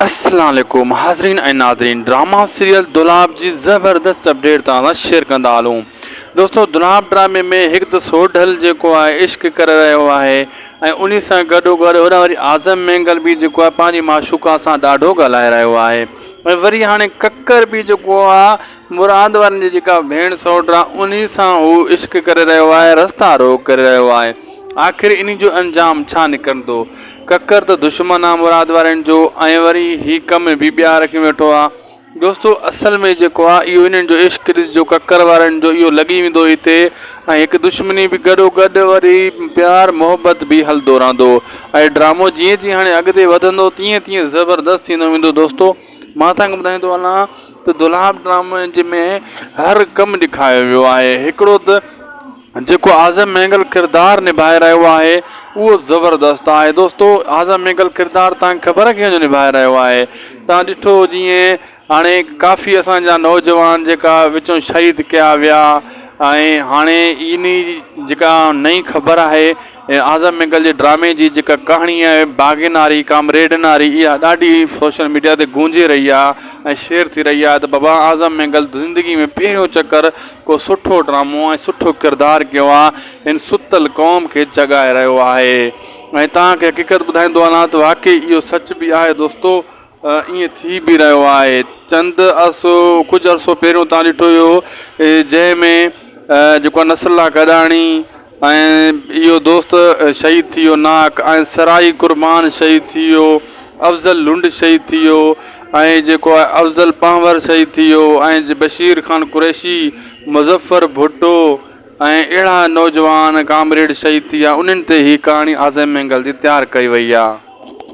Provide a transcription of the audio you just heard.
السلام عليڪم حاضرين ۽ ناظرين ڊراما سيريل دولاب جي زبردست اپڊيٽ توهان سان شيئر ڪندا هلون دوستو دولاب ڊرامي ۾ هڪ ته سوڍل جيڪو آهي عشق ڪري رهيو آهي ۽ انهي سان گڏو گڏ هن وري اعظم مينگل به جيڪو آهي پنهنجي معشوقا سان ڏاڍو ڳالهائي رهيو آهي ۽ وري هاڻي ڪڪر به جيڪو آهي مراد وارن جي جيڪا ڀيڻ سوٽ آهي انهي سان هو عشق ڪري رهيو آهي رستا روڪ ڪري رهيو آهي آخر انهي جو انجام ڇا نڪرندو ڪڪر ته دشمن آ مراد وارين جو ۽ وري هي ڪم به ٻيا رکي ويٺو آ دوستو اصل ۾ جيڪو آ اهو انهن جو عشق ڏسجو ڪڪر وارين جو اهو لڳي ويندو هتي ۽ هڪ دشمني به گڏو گڏ وري پيار محبت به هلندو رهندو اهي ڊرامو جيئن جيئن هاڻي اڳتي وڌندو تيئن تيئن زبردست ٿيندو ويندو دوستو مان تان کي ٻڌائيندو هلان ته دولهاب ڊرامي جي ۾ هر ڪم ڏيکايو ويو آهي هڪڙو ته جيڪو اعظم مينگل ڪردار نڀائي رهيو آهي اهو زبردست آهي دوستو اعظم مينگل ڪردار تان خبر ڪنهن جو نڀائي رهيو آهي تان ڏٺو جيئن هاڻي ڪافي اسانجا نوجوان جيڪا وچون شهيد ڪيا ويا ۽ هاڻي انهي جيڪا نئي خبر آهي ۽ اعظم مينگل جي ڊرامي جي جيڪا ڪهاڻي آهي باغي ناري ڪامريڊ ناري اها ڏاڍي سوشل ميڊيا تي گونجي رهي آهي ۽ شيئر ٿي رهي آهي ته بابا اعظم مينگل زندگي ۾ پهريون چڪر ڪو سٺو ڊرامو ۽ سٺو ڪردار ڪيو آهي هن ستل قوم کي جڳائي رهيو آهي ۽ توهان کي حقيقت ٻڌائيندو هلان ته واقعي اهو سچ به آهي دوستو ائين ٿي به رهيو آهي. چند عرصو ڪجهه عرصو پهريون تان ڏٺو ويو هو جنهن ۾ جيڪو آهي نصر الله گڏاڻي ۽ اهو دوست شهيد ٿي ويو ناهڪ ۽ سرائي قربان شهيد ٿي ويو افضل لنڊ شهيد ٿي ويو ۽ جيڪو آهي افضل پنهور شهيد ٿي ويو ۽ بشير خان قريشي مظفر ڀٽو ۽ اهڙا نوجوان ڪامريڊ شهيد ٿي ويا انهن تي هي ڪهاڻي عازم مينگل جي تيار ڪئي وئي آهي